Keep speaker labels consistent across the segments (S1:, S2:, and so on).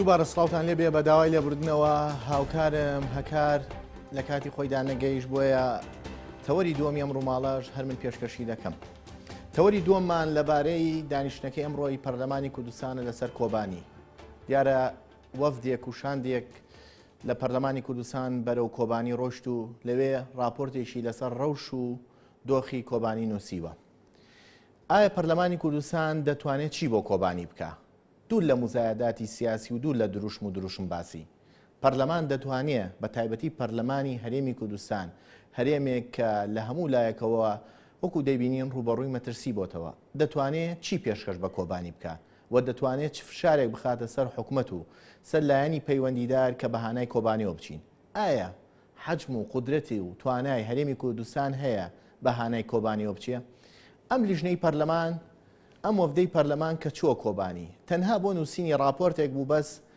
S1: دووبارە سڵاوان لێ بێ بە داوای لێبوردنەوە هاوکارم هەکار لە کاتی خۆیدا نەگەیش بۆیە تەوەری دووەمی ئەم ڕووماڵەش هەر من پێشکەشی دەکەم. تەوەری دووەممان لەبارەی دانیشتەکە ئەمڕۆی پەرلەمانی کوردستانە لەسەر کۆبانی. دیارە وەفدێک و شاندێک لە پەرلەمانی کوردستان بەرەو کۆبانی ڕۆشت و لەوێ ڕاپۆرتێکی لەسەر ڕەوش و دۆخی کۆبانی نووسیوە. ئایا پەرلەمانی کوردستان دەتوانێت چی بۆ کۆبانی بکە؟ دوور لە مزایەداتی سیاسی و دوور لە دروشم و دروشم باسی. پەرلەمان دەتوانێت بە تایبەتی پەرلەمانی هەرێمی کوردستان هەرێمێک کە لە هەموو لایەکەوە وەکو دەیبینین ڕووبەڕووی مەترسی بۆتەوە دەتوانێت چی پێشکەش بە کۆبانی بکە؟ و دەتوانێت چ فشارێک بخاتە سەر حکومەت و سەر لایەنی پەیوەندیدار کە بە هانای کۆبانێوە بچین؟ ئایا حەجم و قودرەتی و توانای هەرێمی کوردستان هەیە بە هانای کۆبانێوە بچێ؟ ئەم لیژنەی پەرلەمان، ئەم وەفدەی پەرلەمان کە چووە کۆبانی، تەنها بۆ نووسینی ڕاپۆرتێک بوو بەس،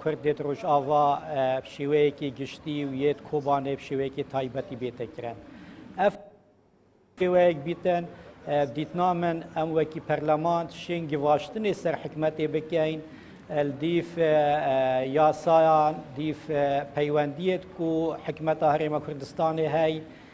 S2: کورد دێت ڕۆژاڤا شێوەیەکی گشتی و یەت کۆبانێ شێوەیەکی تایبەتی بێتەکرێن ئەف شێوەیەک بیتن دیتنا من ئەم وەکی پەرلەمان شێن گیڤاشتنی سەر حکومەتێ بکەین دیف یاسایان دیف پەیوەندیت و حکومەتە هەرێمە کوردستانی هەی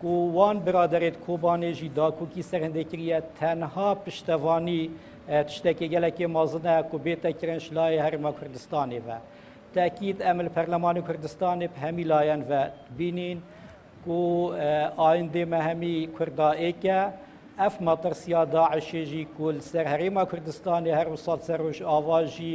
S2: کو وان برادەرێت کۆبانێ ژی داکوکی سەرهندێ کریە تەنها پشتەڤانی تشتەکێ گەلەکێ مازنە کو بێتە کرنش لایێ هەرێما کوردستانێ ڤە تەئکید ئەمە لە پەرلەمانی کوردستانێ پە هەمی لایەن ڤە بینین کو ئایندێ مە هەمی کوردا ئێکە ئەف مەتڕسیا داعشێ ژی کو لە سەر هەرێما کوردستانێ هەر وساڵ سەر ڕوژئاوا ژی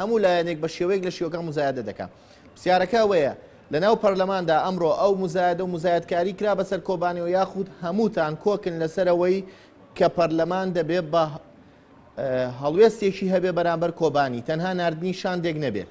S1: هەموو لایەنێک بە شێوەیەک لە شێوەکان موزایەدە دەکا. پرسیارەکە ئەوەیە، لە ناو پەرلەماندا ئەمڕۆ ئەو موزایەدە و موزایەدکاری کرا بە سەر کۆبانێوە یاخود هەمووتان کۆکن لە سەر ئەوەی کە پەرلەمان دەبێ بە هەڵوێستێکی هەبێ بەرامبەر کۆبانی، تەنها ناردنی شاندێک نەبێت؟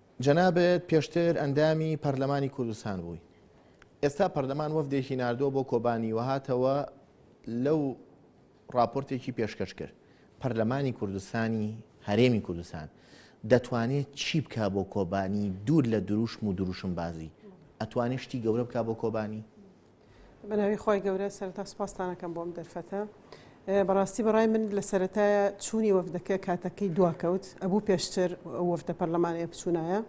S1: جەنابت پێشتر ئەندامی پەرلەمانی کوردستان بووی ئێستا پەرلەمان وەفدێکی نردووە بۆ کۆبانی وهاتەوە لەو راپۆرتێکی پێشکەش کرد پەرلەمانی کوردستانی هەرێمی کوردستان دەتوانێت چی بکە بۆ کۆبانی دوور لە دروشم و دروشم بازی ئەتوانێت شتی گەورە بکە بۆ کۆبانی بە ناوی
S3: خوای گەورە سەرەتا سوپاستان ئەکەم بۆ ئەم دەرفەتە بەڕاستی بەڕای من لە سەرەتایە چوونی وەفدەکە کاتەکەی دواکەوت ئەبوو پێشتر وەفدە پەرلەمانەیە بچوونایە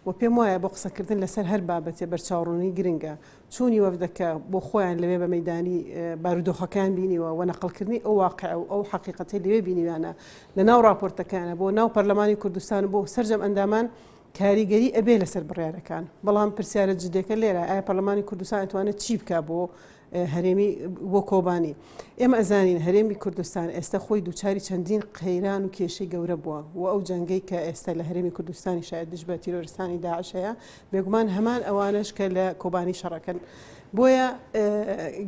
S3: و پێم وایە بۆ قسەکردن لەسەر هەر بابەتێ بەرچاوڕوونی گرنگە چوونی وەفدەکە بۆ خۆیان لەوێ بە مەدانی بارودۆخەکان بینیوە و نەقلکردنی ئەو واقع و ئەو حقیقەتی لەوێ بینیوانە لە ناو راپۆرتەکانە بۆ ناو پەرلەمانی کوردستان بۆ سرجەم ئەندامان کاریگەری ئەبێ لەسەر بڕیارەکان، بەڵام پرسیارە جدێکە لێرە ئایا پەرلەمانی کوردستان ئەتوانێ چی بکا بۆ هەرێمی بۆ کۆبانی؟ ئێمە ئەزانین هەرێمی کوردستان ئێستە خۆی دووچاری چەندین قەیران و کێشەی گەورە بووە و ئەو جەنگەی کە ئێستە لە هەرێمی کوردستانی شایەت دژ بە تیرۆرستانی داعش هەیە بێگومان هەمان ئەوانەش کە لە کۆبانی شەڕەکەن بۆیە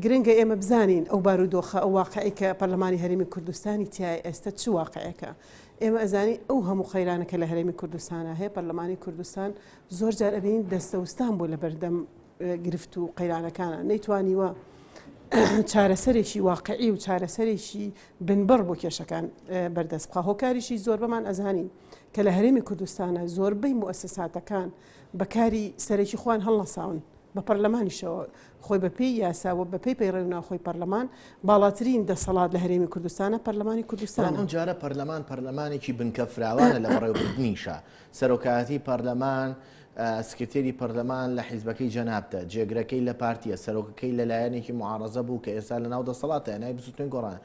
S3: گرنگە ئێمە بزانین ئەو بارودۆخە ئەو واقعی کە پەرلەمانی هەرێمی کوردستانی تای ئێستە چ واقعەکە ئێمە ئەزانین ئەو هەموو قەیرانە کە لە هەرێمی کوردستانا هەیە پەرلەمانی کوردستان زۆر جار ئەبینین دەستەوستان بۆ لە بەردەم گرفت و قەیرانەکانە نەیتوانیوە چارەسەرێکی واقعی و چارەسەرێکی بنبڕ بۆ کێشەکان بەردەست بخە هۆکاریشی زۆر بەمان ئەزانین کە لە هەرێمی کوردستانە زۆربەی موسساتەکان بەکاری سەرەکی خوان هەڵنەساون بە پەرلەمانیشەوە خۆی بە پێی یاسا و بە پێی پەیڕەوی ناوخۆی پەرلەمان باڵاترین دەسەڵات لە هەرێمی کوردستانە پەرلەمانی کوردستان بەڵام ئەم جارە پەرلەمان
S1: پەرلەمانێکی بنکە فراوانە لە بەڕێوەبردنیشە سەرۆکایەتی پەرلەمان سکرتێری پەرلەمان لە حیزبەکەی جەنابتە جێگرەکەی لە پارتیە سەرۆکەکەی لە لایەنێکی معارزە بوو کە ئێستا لە ناو دەسەڵاتە نای بزوتنی گۆڕان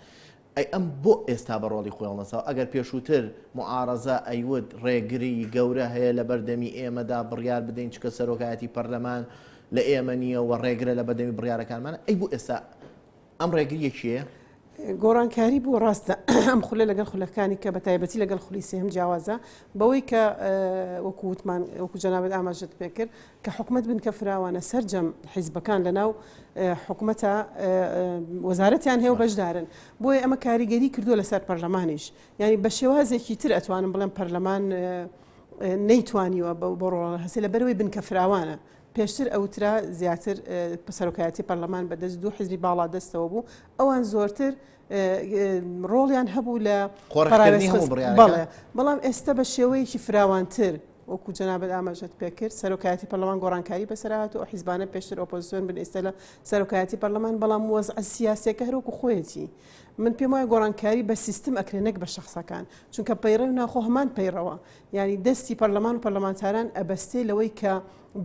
S1: ئەی ئەم بۆ ئێستا بە ڕۆڵی خۆی هەڵنەساوە ئەگەر پێشووتر موعارەزە ئەیوت ڕێگری گەورە هەیە لە بەردەمی ئێمەدا بڕیار بدەین چونکە سەرۆکایەتی پەرلەمان لە ئێمە نییە و ڕێگرە لە بەردەمی بڕیارەکانمان ئەی بۆ ئێستا ئەم ڕێگریە کێیە؟ گۆڕانکاری
S3: بوو ڕاستە ئەم خولە لەگەڵ خولەکانی کە بە تایبەتی لەگەڵ خولی سێهم جیاوازە بەوەی کە وەکووتمان وەکو جەنابەت ئاماژت پێکرد کە حکومەت بنکە فراوانە سەرجەم حیزبەکان لەناو حکومەتا وەزارەتیان هەیە و بەشدارن بۆیە ئەمە کاریگەری کردووە لەسەر پەرلەمانیش یعنی بە شێوازێکی تر ئەتوانم بڵێم پەرلەمان نەیتوانیوە بۆ ڕۆڵە هەستی لە بەرەوەی بنکە فراوانە پێشتر ئەوترا زیاتر پسەرۆکایەتی پەرلەمان بەدەست دوو حزبی باڵا دەستەوە بوو ئەوان زۆرتر ڕۆڵیان هەبوو لە قۆڕکردنی هەموو بڕیارەکان. بەڵێ، بەڵێ، بەڵام ئێستا بە شێوەیەکی فراوانتر وەکو جەنابت ئاماژەت پێ کرد، سەرۆکایەتی پەرلەمان گۆڕانکاری بەسەرا هاتوو، ئەو حیزبانە پێشتر ئۆپۆزسیۆن بن ئێستا لە سەرۆکایەتی پەرلەمان، بەڵام وەزعە سیاسییەکە هەر وەکو خۆیەتی. من پێم وایە گۆڕانکاری بە سیستم ئەکرێ نەک بە شەخسەکان، چونکە پەیڕەوی ناخۆ هەمان پەیڕەوە، یانی دەستی پەرلەمان و پەرلەمانتاران ئەبەستێ لەوەی کە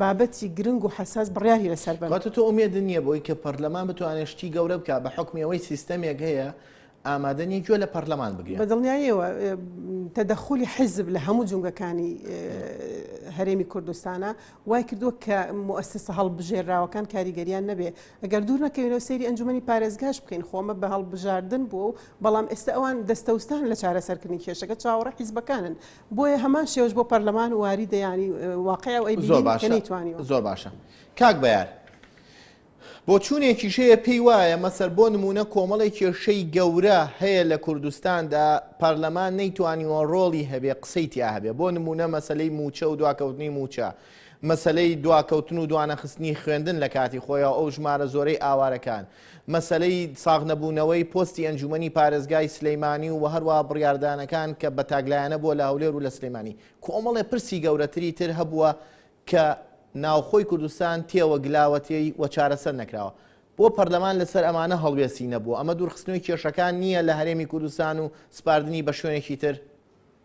S3: بابەتی گرنگ و حەساس بڕیاری لەسەر بەم. کەواتە تۆ ئومێدت نییە بەوەی
S1: کە پەرلەمان بتوانێت شتی گەورە بکات بە حوکمی ئەوەی سیستەمێک هەیە ئامادە نییە گوێ لە پەرلەمان بگرێت. بەدڵنیاییەوە
S3: تەدەخولی حیزب لە هەموو جومگەکانی هەرێمی کوردستانە وای کردووە کە موئەسسە هەڵبژێرراوەکان کاریگەریان نەبێ ئەگەر دوور نەکەوینەوە سەیری ئەنجومەنی پارێزگاش بکەین خۆ ئەمە بە هەڵبژاردن بووە و بەڵام ئێستا ئەوان دەستەوستان لە چارەسەرکردنی کێشەکە چاوەڕێی حیزبەکانن بۆیە هەمان شێوەش بۆ پەرلەمان واریدە یانی واقع ئەو ئەی بینین زۆر باشە کە نەیتوانیوە. زۆر باشە
S1: کاک بەیار بۆچوونێکیش هەیە پێی وایە مەسەر بۆ نموونە کۆمەڵێک کێشەی گەورە هەیە لە کوردستاندا پەرلەمان نەیتوانیوە ڕۆڵی هەبێ قسەی تیا هەبێ بۆ نموونە مەسەلەی مووچە و دواکەوتنی مووچە مەسەلەی دواکەوتن و دوانەخستنی خوێندن لە کاتی خۆیەوە ئەو ژمارە زۆرەی ئاوارەکان مەسەلەی ساغنەبوونەوەی پۆستی ئەنجوومەنی پارێزگای سلێمانی و هەروەها بڕیاردانەکان کە بە تاکلایەنە بووە لە هەولێر و لە سلێمانی، کۆمەڵێ پرسی گەورەتری تر هەبووە کە ناوخۆی کوردستان تێوە گلاوەتێی و چارەسەر نەکراوە. بۆ پەرلەمان لەسەر ئەمانە هەڵوێستی نەبووە؟ ئەمە دوورخستنەوەی کێشەکان نییە لە هەرێمی کوردستان و سپاردنی بە شوێنێکی تر؟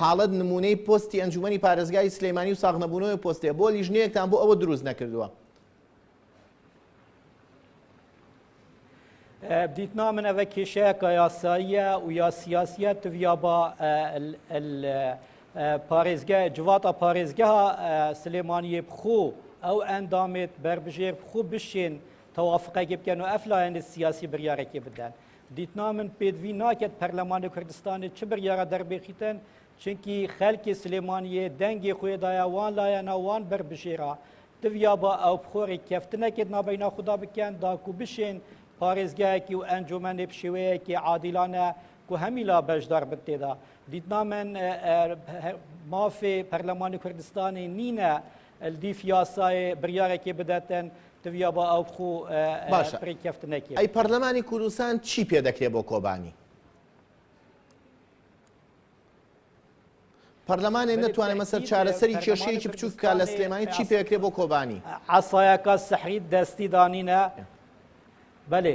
S1: حاڵت نمونەی پۆستی ئەنجومەنی پارێزگای سلیمانی و ساغنەبوونەوەی پۆستێ بۆ لیژنەیەکتان بۆ ئەوە دروست نەکردووە.
S2: بدیتنا من ئەە کێشەیەکە یاساییە و یا سیاسیە تویا بە پارێزگە جواتە پارێزگە سلێمانیە بخۆ ئەو ئەندامێت بربژێر بخۆ بشێن تەوافقەکی بکەن و ئەفلایەن سیاسی بریارێکی بدەن دیتنا من پێدوی ناکەت پەرلەمانی کوردستانی چ بڕیارە دەربێخیتن چونکی خەلکی سلێمانیە دەنگی خۆێدایە وان لایەنە وان بەربژێرا دڤیا بە ئەو بخۆری کەفتنەکێت نابینا خوددا بکەن داکو بشێن پارێزگایەکی و ئەنجومەنێ بشێوەیەکی عادیلانە کو هەمیلا بەشدار بن تێدا دیتنا من مافێ پەرلەمانی کوردستانی نینە دیف یاسای بڕارێکی بدەتن دڤیا با ئەو خوو باشە پری کەفت نەکێ ئەی پەرلەمانی
S1: کوردستان چی پێ دەکرێ بۆ کۆبانی پەرلەمانێ نەتوانێت مەسەر چارەسەری کێشەیەکی بچوک کا لە سلێمانی چی پێکرێ بۆ کۆبانی عسایەکە
S2: سەحری دەستی دانینە بەێ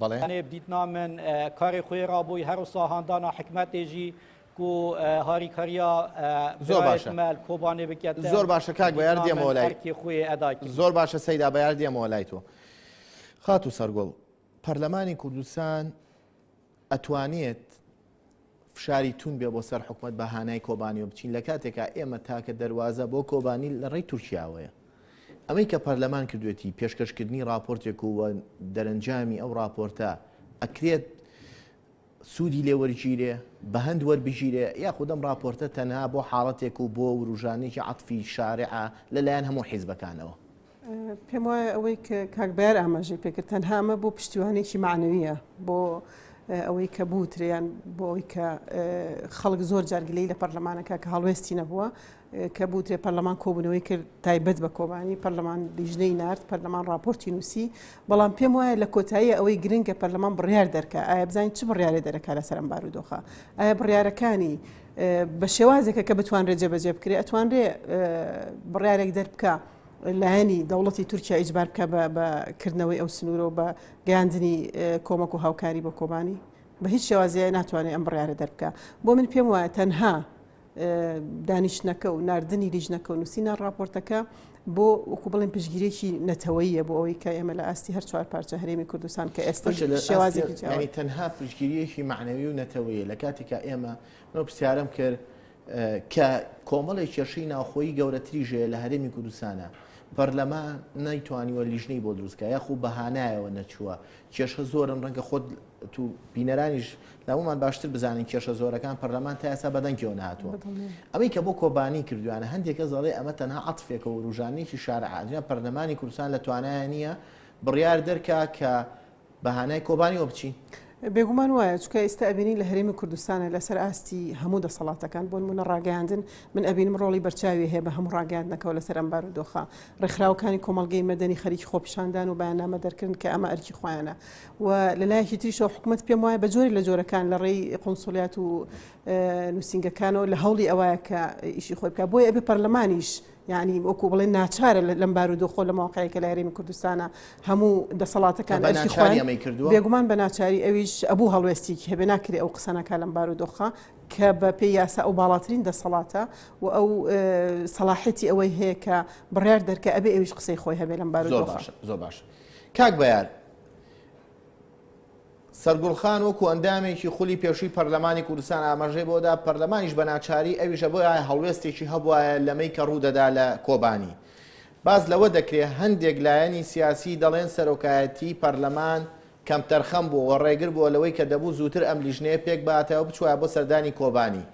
S2: بەڵێ ئەێ بدیت نامن کارێ خوێ ڕابووی هەر و ساهاندانا حکمەتێژی کو هاری کاریا زۆر
S1: باشە کۆبانێ بکات
S2: زۆر باشە کاک بە یار
S1: دێمەوە لای خوێ ئەدا زۆر
S2: باشە سەیدا بە
S1: یار دێمەوە لای تۆ خات و سەرگۆڵ پەرلەمانی کوردستان ئەتوانێت فشاری توون بێ بۆ سەر حکومت بە هانای کۆبانیەوە بچین لە کاتێکا ئێمە تاکە دەواازە بۆ کۆبانی لە ڕێی تورکیاوەیە ئەمەی کە پەرلەمان کردوێتی پێشکەشکردنی راپۆرتێک و دەرەنجامی ئەو راپۆرتە ئەکرێت سوودی لێوەرگیرێ بە هەند وەربگیرێ یاخودەم راپۆرتە تەنها بۆ حاڵەتێک و بۆ وروژانێکی عاتفی شارعە لەلایەن هەموو حیزبەکانەوە پێم وایە
S3: ئەوەی کە کاک بەیار ئاماژەی پێکرد تەنها ئەمە بۆ پشتیوانێکی معنەویە بۆ ئەوەی کە بوتریان بۆ ئەوی کە خەڵک زۆر جارگلەی لە پەرلەمانەکە کە هەڵوێستی نەبووە کە بوتێ پەرلەمان کۆبنەوەی کرد تایبەت بە کۆبانی پەرلەمان لیژنەی نرد پەرلەمان راپۆرتی نووسی بەڵام پێم وایە لە کۆتایی ئەوەی گرنگە پەرلەمان بڕیار دەرکە ئایا بزانین چ بڕیارێ دەرەکە لە سەرم بارودۆخە ئایا بڕیارەکانی بە شێوازێکە کە بتوانرێت جێبەجێ بکرێت ئەتوانرێ بڕارێک دەربکە لایەنی دەوڵەتی تورکیا ئیجبار بکە بە کردنەوەی ئەو سنوورە و بە گەیاندنی کۆمەک و هاوکاری بۆ کۆبانی بە هیچ شێوازیای ناتوانێت ئەم بڕارە دەربکە بۆ من پێم وایە تەنها دانیشتنەکە و نردنی لیژنەکە و نووسینە راپۆرتەکە بۆ وەکو بڵێن پشگیرێکی نەتەوەیە بۆ ئەوەی کە ئێمە لە ئاستی هەر چوار پارچە هەرێمی کوردستان کە ئێستا شێوازی تەنها پشگیریەکی
S1: معنەوی و نەتەوەیە لە کاتێکا ئێمە من پرسیارم کرد کە کۆمەڵێک کێشەی ناوخۆیی گەورەتریش هەیە لە هەرێمی کوردستانە پەرلەمان نەیتوانیوە لیژنەی بۆ دروستکە یاخو بەهانایەوە نەچووە کێشە زۆرن ڕەنگە خۆت تو بینەرانیش لەمەمان باشتر بزانین کێشە زۆرەکان پەرلەمان تا ئێستا بەدەنگەوە ناتوە ئەوەی کە بۆ کۆبانی کردویانە هەندێکە زەڵێ ئەمە تەنها عاتفێکە وروژانێکی شارعادرا پەرلەمانی کوردستان لە توانایە نییە بڕیار دەرکا کە بە هانای کۆبانیەوە بچین. بێگومان وایە
S3: چکە ئیستا ئەبینین لە هەرێمی کوردستانە لەسەر ئاستی هەموو دەسەڵاتەکان بۆن منە ڕاگەیاندن من ئەبینم ڕۆڵی بەرچاوی هەیە بە هەموو ڕاگەاندنەکەەوە لەسەر ئەم بار و دۆخە ڕێکخراوەکانی کۆمەلگەی مەدەنی خەریکی خۆپیشاندان و بەیانامە دەرکردن کە ئەمە ئەرکی خۆیانە و لەلایەکی تریشەوە حکوومەت پێم وایە بە جۆری لە جۆرەکان لە ڕێی قنسولیات و نووسنگەکانەوە لە هەوڵی ئەوەیە کە ئیشی خۆی بکە بۆیە ئەبێ پەرلەمانیش یانی وەکو بڵێن ناچارە لەم بارودۆخۆ لە ماوەقعی کە لە هەرێمی کوردستانە هەموو دەسەڵاتەکان ئەرکی خۆیان کردو بێگومان بە ناچاری ئەویش ئەبوو هەڵوێستیکی هەبێ ناکرێ ئەو قسەنەکە لەم بارودۆخە کە بە پێی یاسا ئەو باڵاترین دەسەڵاتە و ئەو سەلاحەتی ئەوەی هەیە کە بڕیار دەرکە ئەبێ ئەویش قسەی خۆی هەبێ لەم بارودۆخە زۆر باش
S1: کاک بەیار سەرگوڵخان وەکو ئەندامێکی خولی پێشووی پەرلەمانی کوردستان ئاماژەی بەوە دا، پەرلەمانیش بە ناچاری ئەویشە بۆیە هەڵوێستێکی هەبوایە لەمەی کە ڕوو دەدا لە کۆبانی. باس لەوە دەکرێ هەندێک لایەنی سیاسی دەڵێن سەرۆکایەتیی پەرلەمان کەمتەرخەم بووە و ڕێگر بووە لەوەی کە دەبوو زووتر ئەم لیژنەیە پێک بهاتایە و بچوایە بۆ سەردانی کۆبانی.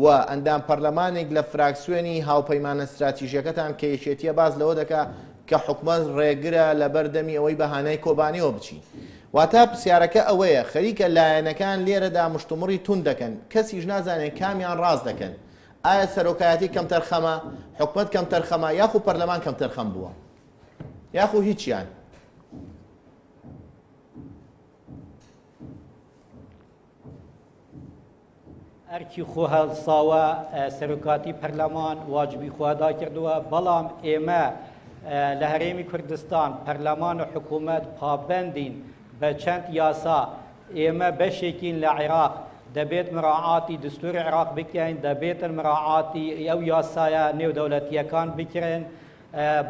S1: و ئەندام پەرلەمانێک لە فراکسیۆنی هاوپەیمانە ستراتیژیەکەتان کە یەکێتیە باس لەوە دەکا کە حکومەت ڕێگرە لەبەر دەمی ئەوەی بە هانای کۆبانێوە بچی واتا پرسیارەکە ئەوەیە خەریکە لایەنەکان لێرەدا مشتومڕی توند دەکەن کەسیش نازانێت کامیان ڕاست دەکەن ئایا سەرۆکایەتی کەمتەرخەمە حکومەت کەمتەرخەمە یاخو پەرلەمان کەمتەرخەم بووە یاخو هیچیان
S2: ئەرکی خۆ هەڵساوە سەرۆکاتی پەرلەمان واجبی خوادا کردووە بەڵام ئێمە لە هەرێمی کوردستان پەرلەمان و حکوومەت پابندین بە چەند یاسا ئێمە بەشێکین لە عێراق دەبێت مراعاتی دستوری عێراق بکەین دەبێتن مراعاتی ئەو یاسایە نێودەولەتیەکان بکرێن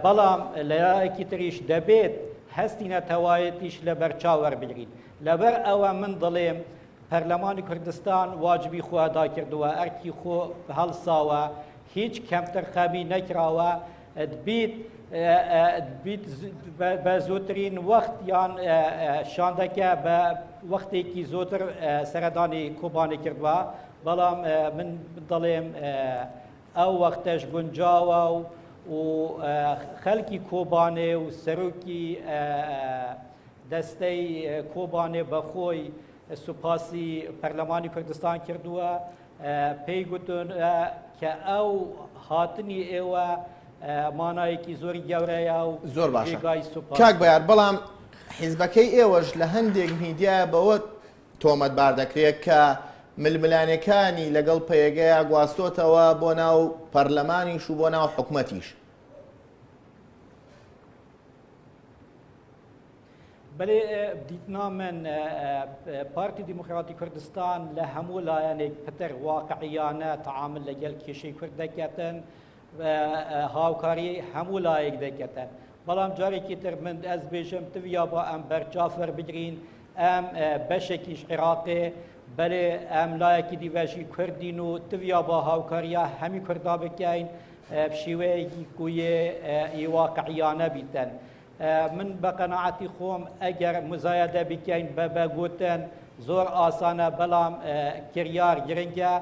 S2: بەڵام لەیەکی تریش دەبێت هەستی نەتەوایەتیش لە بەرچاوەربگرین لەبەر ئەوە من دڵێم پەرلەمانی کوردستان واجبی خۆ ئەدا کردووە، ئەرکی خۆ هەڵساوە، هیچ کەمتەرخەمی نەکراوە، دبیت دبیت بە زووترین وەخت یان شاندەکە بە وەختێکی زۆتر سەردانی کۆبانێ کردووە، بەڵام من دەڵێم ئەو وەختەش گونجاوە و خەلکی کۆبانێ و سەرۆکی دەستەی کۆبانێ بە خۆی سوپاسی پەرلەمانی کوردستان کردووە پێی گوتون کە ئەو هاتنی ئێوە مانایەکی زۆری گەورەیە و زۆر باشە
S1: کاک بەیار بەڵام حیزبەکەی ئێوەش لە هەندێک میدیا بەوە تۆمەتبار دەکرێت کە ململانەکانی لەگەڵ پەیەگەیا گواستۆتەوە بۆ ناو پەرلەمانیش و بۆ ناو حکومەتیش
S2: بەێ دیتنا من پارتی دیموکراتی کوردستان لە هەموو لایەنێک پتر واقعیانە تعامل لەگەل کێشەی کورد دەکەتن هاوکاری هەموو لایەک دەکەتن بەڵام جارێکی تر من ئەس بێژم تویا بۆ ئەم بەرچاف وەربگرین ئەم بەشێکیش عێراقێ بەێ ئەم لایەکی دیڤژی کوردین و تویا بۆ هاوکاریە هەمی کوردا بکەین بشیوەیەکی کویێ ی واقعیانە بیتن. من بە قەناعەتی خۆم ئەگەر مزایەدە بکەین بە بە گوتن زۆر ئاسانە بەڵام کریار گرنگە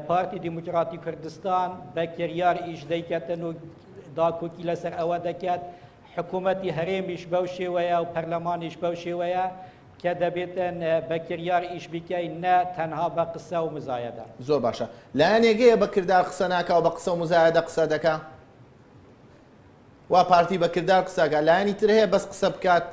S2: پارتی دیموکراتی کوردستان بە کریار ئیش دەیکەتن و داکۆکی لەسەر ئەوە دەکات حکوومەتی هەرێمیش بەو شێوەیە و پەرلەمانیش بەو شێوەیە کە دەبێت بە کریار ئیش بیکەی نە تەنها بە قسە و مزایەدە. زۆر باشە
S1: لایەنێک هەیە بە کردار قسە ناکا و بە قسە و مزایەدە قسە دەکا؟ وا پارتی بە کردار قسە ئەکا لایەنی تر هەیە بەس قسە بکات؟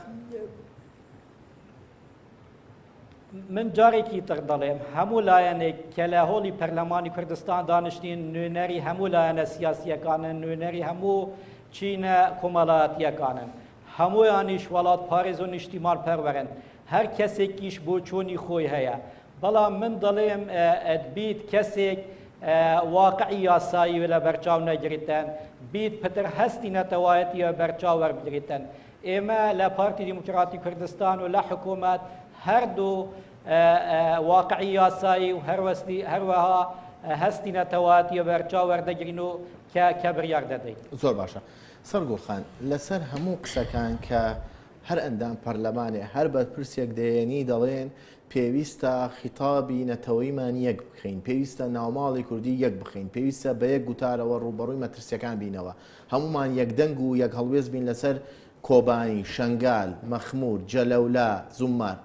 S2: من جارێکی تر دەڵێم هەموو لایەنێک کە لە هۆڵی پەرلەمانی کوردستان دانیشتین نوێنەری هەموو لایەنە سیاسییەکانن نوێنەری هەموو چینە کۆمەڵایەتییەکانن هەموویانیش وەڵاتپارێز و نیشتیمانپەروەرن، هەر کەسێکیش بۆچوونی خۆی هەیە، بەڵام من دەڵێم بیت کەسێک واقعی یاسایی لەبەرچاو نەگریتن، بیت پتر هەستی نەتەوایەتی لەبەرچاو وەربگریتن. ئێمە لە پارتی دیموکراتی کوردستان و لە حکوومەت هەردوو واقعی یاسایی و هەروەها هەستی نەتەوایەتی لەبەرچاو وەردەگرین و کە بڕیار دەدەین. زۆر باشە.
S1: سەرگوڵ خان، لەسەر هەموو قسەکان کە هەر ئەندام پەرلەمانێ، هەر بەرپرسێک دەیەنی دەڵێن پێویستە خیتابی نەتەوەیمان یەک بکەین، پێویستە ناوماڵی کوردی یەک بخەین، پێویستە بە یەک گوتارەوە ڕووبەڕووی مەترسیەکان بینەوە، هەموومان یەکدەنگ و یەک هەڵوێست بین لەسەر کۆبانی، شەنگال، مەخمور، جەلەولا، زوممار.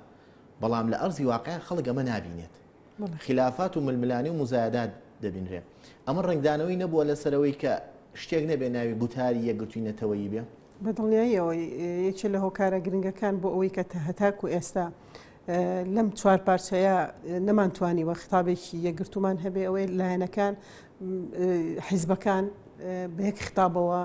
S1: بەڵام لە ئەرزی واقع خەڵک ئەمە نابینێت. خلافات و ململانێ و موزایەدات دەبینرێ. ئەمە ڕەنگدانەوەی نەبووە لەسەرەوەی کە شتێک نەبێ ناوی گوتاری یەکگرتووی نەتەوەیی بێ؟ بە دڵنیاییەوە
S3: یەکێ لە هۆکارە گرنگەکان بۆ ئەوەی کە هەتاکو ئێستا لەم چوار پارچەیە نەمانتوانیوە خطابێکی یەکگرتومان هەبێ ئەوەی لایەنەکان حیزبەکان بە یەک خطابەوە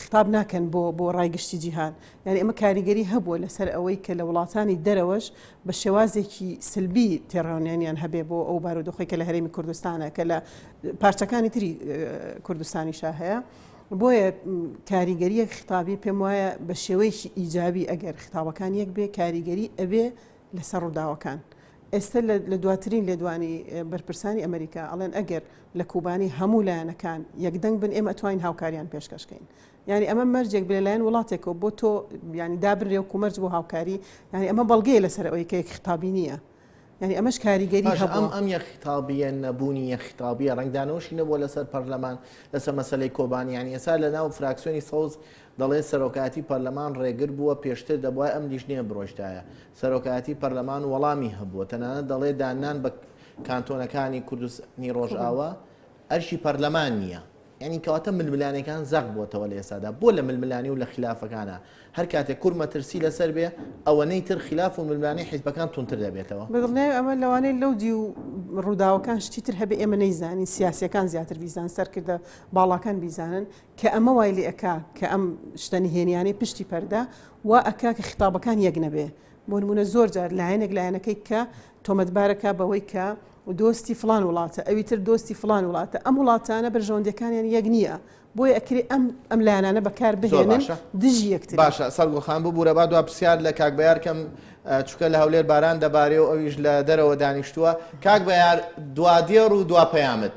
S3: خیتاب ناکەن بۆ بۆ ڕای گشتی جیهان یعنی ئەمە کاریگەری هەبووە لەسەر ئەوەی کە لە وڵاتانی دەرەوەش بە شێوازێکی سلبی تێڕاونیانیان هەبێ بۆ ئەو بارودۆخی کە لە هەرێمی کوردستانە کە لە پارچەکانی تری کوردستانی شا هەیە. بۆیە کاریگەریەک خطابی پێم وایە بە شێوەیەکی ئیجابی ئەگەر خطابەکان یەک بێ کاریگەری ئەبێ لەسەر ڕووداوەکان ئێستا لە دواترین لێدوانی بەرپرسانی ئەمەریکا ئەڵێن ئەگەر لە کوبانی هەموو لایەنەکان یەکدەنگ بن ئێمە ئەتوانین هاوکاریان پێشکەشکەین یعنی ئەمە مەرجێک بێ لایەن وڵاتێکەوە بۆ تۆ ینی دابرێ و کومەرج بۆ هاوکاری یعنی ئەمە بەڵگەیە لەسەر ئەوەی کە یەک خطابی نییە یعنی ئەمەش کاریگەری ئەم ئەم یە خطابیە
S1: نەبوونی یە خطابیە ڕنگدانەوەشی نەبووە لەسەر پەرلەمان لەسەر مەسلەی کۆبانیانی ئێسا لە ناو فراکسیۆنی سەوز دەڵێت سەرۆکایەتی پەرلەمان رێگر بووە، پێشتر دەبوایە ئەم لیژنەیە بڕۆیشتایە سەرۆکایەتی پەرلەمان و وەڵامی هەبووە، تەنانەت دەڵێت داننان بە کانتۆنەکانی کوردستانی رۆژئاوا ئەرکی پەرلەمان نییە. یانی کەواتە ململانێکان زەق بۆتەوە لە ئێستادا، بۆ لە ململانێ و لە خیلافەکانا هەر کاتێک کورد مەترسی لەسەر بێ، ئەوەنەی تر خیلاف و ململانێی حیزبەکان توندتر دەبێتەوە؟ بەدڵنیای ئەمە لەوانەیە
S3: لەو دیو رووداوەکان شتی تر هەبێ ئێمە نەیزانین، سیاسییەکان زیاتر بیزانن، سەرکردە باڵاکان بیزانن، کە ئەمە وای لێ ئەکا کە ئەم شتە نهێنیانەی پشتی پەردە وا ئەکا کە خیتابەکان یەک نەبێ. بۆ نموونە زۆر جار لایەنێک لایەنەکەی کە تۆمەتبار ئەکا بەوەی کە دۆستی فڵان وڵاتە، ئەوی تر دۆستی فڵان وڵاتە، ئەم وڵاتانە بەرژەوەندییەکانیان یەک نییە، بۆیە ئەکرێ ئەم ئەم لایەنانە بەکار زۆر بهێنن باشە دژی یەکتری. باشە سەرگوڵ خان ببوورە
S1: با دوا پرسیار لە کاک بەیار کەم ئە، چونکە لە هەولێر باران دەبارێ و ئەویش لە دەرەوە دانیشتووە. کاک بەیار دوا دێڕ و دوا پەیامت.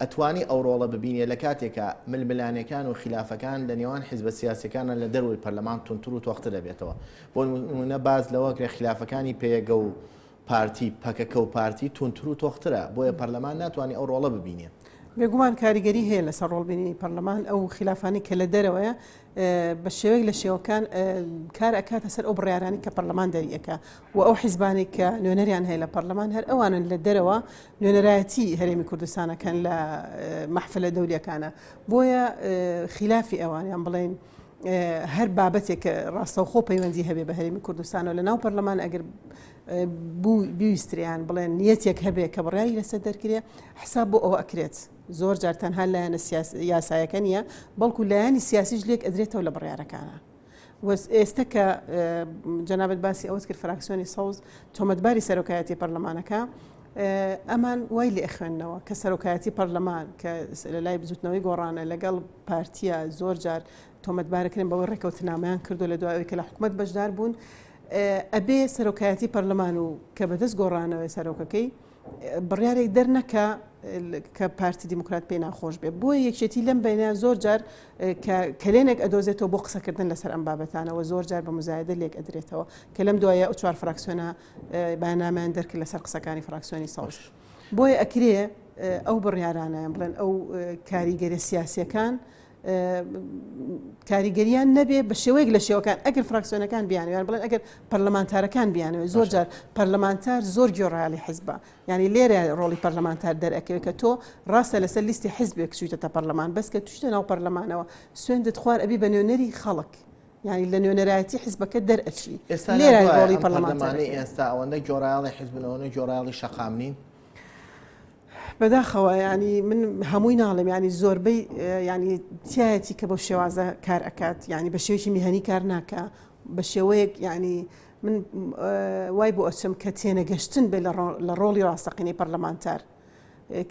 S1: ئەتوانی ئەو ڕۆڵە ببینێ لە کاتێکا ململانێکان و خیلافەکان لە نێوان حیزبە سیاسیەکانە لە دەرەوەی پەرلەمان تونتر و تۆختر دەبێتەوە بۆ نمونە باز لەوە کرێ خلافەکانی پێگە و پارتی پەکەکە و پارتی تونتر و تۆخترە بۆیە پەرلەمان ناتوانانی ئەو ڕۆڵە ببینێ بێگومان کاریگەری
S3: هەیە لەسەر ڕۆڵبینی پەرلەمان ئەو خلافانی کە لە دەرەوەیە بە شێوەیەک لە شێوەکان کار ئەکاتە سەر ئەو بڕارانی کە پەرلەمان دەریەکە و ئەو حیزبانەی کە نوێنەریان هەیە لە پەڕلەمان هەر ئەوانن لە دەرەوە نوێنەرایەتی هەرێمی کوردستان ئەکەن لە مەحفلە دەولیەکانا بۆیە خیلافی ئەوان یان بڵێین هەر بابەتێک کە ڕاستەوخۆ پەیوەندی هەبێ بە هەرێمی کوردستانەوە لە ناو پەرلەمان ئەگەر بوو بیویستریان بڵێن نیەتێک هەبێ کە بڕیاری لەسەر دەرکرێ حساب بۆ ئەوە ئەکرێت زۆر جار تەنها لایەنە یاسایەکە نیە بەڵکو لایەنی سیاسیش لێک ئەدرێتەوە لە بڕارەکانە. ئێستە کە جەنابەت باسی ئەوەت کرد فراکسیۆنی سەوز تۆمەتباری سەرۆکایەتی پەرلەمانەکە ئەمان وای لێ خوێندنەوە کە سەرۆکایەتی پەرلەمان کە لە لای بزوتنەوەی گۆڕانە لەگەڵ پارتیە زۆر جار تۆمەتبارەکردن بەوەی ڕێکەوتنامەیان کردو لە دوایەوەی کە لە حکومت بەشدار بوون ئەبێ سەرۆکایەتی پەرلەمان و کە بەدەست گۆڕانەوەی سەرۆکەکەی بڕیارێک دەرنەکا کە پارتی دیموکرات پێی ناخۆش بێت بۆ یەکێتی لەم بینە زۆر جار کە کەلێنێک ئەدۆزێتەوە بۆ قسەکردن لەسەر ئەم بابەتانەوە زۆر جار بە مزایدە لێک ئەدرێتەوە کە لەم دوایە ئە چوار فراکسیۆنە بەنامیان دەرکرد لەسەر قسەکانی فراکسیۆنی ساوش بۆیە ئەکرێ ئەو بڕیارانیان بڵێن ئەو کاریگەرە سیاسەکان کاریگەریان نەبێ بە شێوەیەک لە شێوەکان ئەگەر فراکسیۆنەکان بیانویان بڵێن ئەگەر پەرلەمانتارەکان بیانەوە زۆر جار پەرلەمانتار زۆر گۆڕالی حزبە ینی لێرە ڕۆڵی پەرلەمانتار دەرەکەوێت کە تۆ ڕاستە لەسەر لیستی حزبێک چویتە تا پەرلەمان بەس کە توشتە ناو پەرلەمانەوە سوێندت خوار ئەبی بە نوێنەری خەڵک ینی لە نوێنەرایەتی حزبەکە دەرئەچی ئێستا لێرە ڕۆڵی پەرلەمانتاری ئێستا ئەوەندە
S1: گۆڕایڵی حزبنەوەە گۆڕایڵی شەقام نین بەداخەوە
S3: یانی من هەمووی ناڵێم یانی زۆربەی یانی تایەتی کە بۆ شێوازە کار ئەکات یانی بە شێوکی میهنی کار ناکە بە شێوەیەک یانی من وای بۆ ئەچم کە تێنەگەشتن بێ لە ڕۆڵی ڕاستەقینەی پەرلەمانتار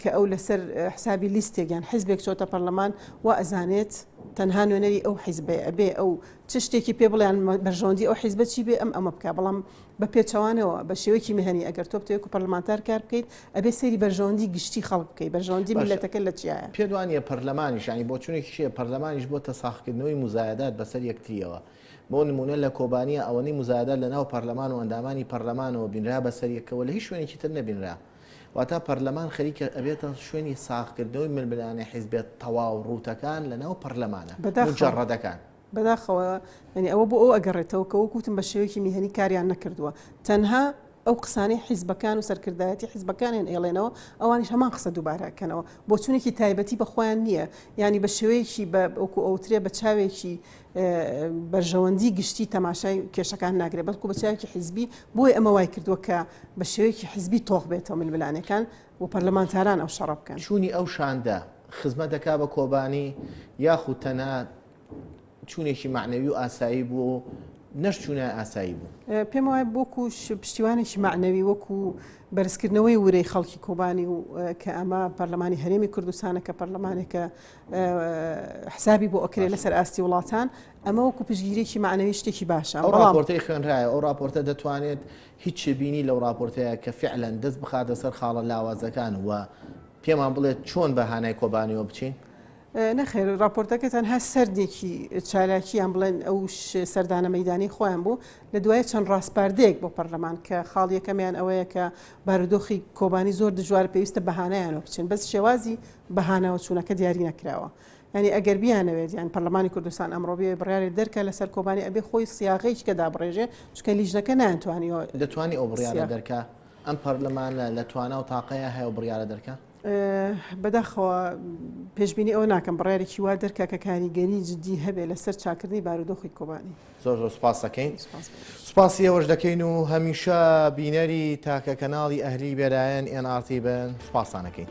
S3: کە ئەو لەسەر حسابی لیستێک یان حیزبێک چۆتە پەرلەمان و ئەزانێت تەنها نوێنەری ئەو حیزبێ ئەبێ ئەو چ شتێکی پێ بڵیان بەرژەوەندی ئەو حیزبە چی بێ ئەم ئەمە بکە بەڵام بە پێچەوانەوە بە شێوەیەکی مەهنی ئەگەر تۆ بتەوێت و پەرلەمانتار کار بکەیت ئەبێ سەیری بەرژەوەندی گشتی خەڵک بکەیت بەرژەوەندی میلەتەکە لە چیایە پێت وانییە پەرلەمانیش
S1: یانی بۆچوونێکی چییە پەرلەمانیش بۆتە ساخکردنەوەی موزایەدات بەسەر یەکترییەوە بۆ نموونە لە کۆبانییا ئەوەنەی موزایەدات لە ناو پەرلەمان و ئەندامانی پەرلەمانەوە بینرا بەسەر یەکەوە لە هیچ شوێنێکی تر نەبینرا واتا پەرلەمان خەریکە ئەبێتە شوێنی ساخکردنەوەی ململانێ حیزبێت تەواو ڕووتەکان لە ناو پەرلەمانە مجەڕەدەکان. بەداخەوە
S3: یانی ئەوە بۆ ئەو ئەگەڕێتەوە کە وەکو وتم بە شێوەیەکی میهنی کاریان نەکردووە تەنها ئەو قسانەی حیزبەکان و سەرکردایەتی حیزبەکانیان ئێڵێنەوە ئەوانیش هەمان قسە دووبارە ئەکەنەوە بۆچوونێکی تایبەتی بە خۆیان نییە یانی بە شێوەیەکی بە وەکو ئەوترێ بە چاوێکی بەرژەوەندی گشتی تەماشای کێشەکان ناگرێت بەڵکو بە چاوێکی حیزبی بۆی ئەمە وای کردووە کە بە شێوەیەکی حیزبی تۆخ بێتەوە ململانەکان و پەرلەمانتاران ئەو شەڕە بکەن چوونی ئەو شاندە
S1: خزمەت دەکا بە کۆبانی یاخود تەنها چوونێکی معنەوی و ئاسایی بووە و نەش چوونای ئاسایی بوو پێم وایە بۆکو
S3: پشتیوانێکی معنەوی وەکو بەرزکردنەوەی ورەی خەڵکی کۆبانی و کە ئەمە پەرلەمانی هەرێمی کوردستانە کە پەرلەمانێکە حسابی بۆ ئۆکرێ لەسەر ئاستی وڵاتان ئەمە وەکو پشگیرێکی معنەوی شتێکی باشە ئەو راپۆرتی خوێنرایە
S1: ئەو راپۆرتە دەتوانێت هیچ شێبینی لەو راپۆرتەیە کە فعلەن دەست بخاتە سەر خاڵە لاوازەکان و پێمان بڵێت چۆن بە هانای کۆبانیەوە بچین نەخێر
S3: راپۆرتەکە تەنها سەردێکی چالاکییان بڵێن ئەو سەردانە مەدانی خۆیان بوو لە دوای چەند ڕاستپاردەیەک بۆ پەرلەمان کە خاڵیەکەمیان ئەوەیە کە بارودۆخی کۆبانی زۆر دژوار پێویستە بەهانایانەوە بچن بەس شێوازی بەهانەوە چوونەکە دیاری نەکراوە ینی ئەگەر بیانەوێت یان پەرلەمانی کوردستان ئەمڕۆبیێ بڕارێ دەرکە لەسەر کۆبانی ئەبێ خۆی سیاغیش کە دابڕێژێ چکە لیژنەکە نانتوانی دەتوانانی ئەو بڕیارە
S1: دەرکە ئەم پەرلەمانە لە توانا و تاقەیە هەیە و بڕیارە دەرکە بەداخەوە
S3: پێشبینی ئەوە ناکەم بڕارێکی وا دەرکە کە کاریگەری جددی هەبێ لەسەر چاکردنی بارودۆخی کۆبانی زۆر زۆر سپاس
S1: دەکەین سپاسی ئەوەش دەکەین و هەمیشە بینەری تاکە کەناڵی ئەهلی بێرایەن ئێن ئارتی بن سپاسانەکەین.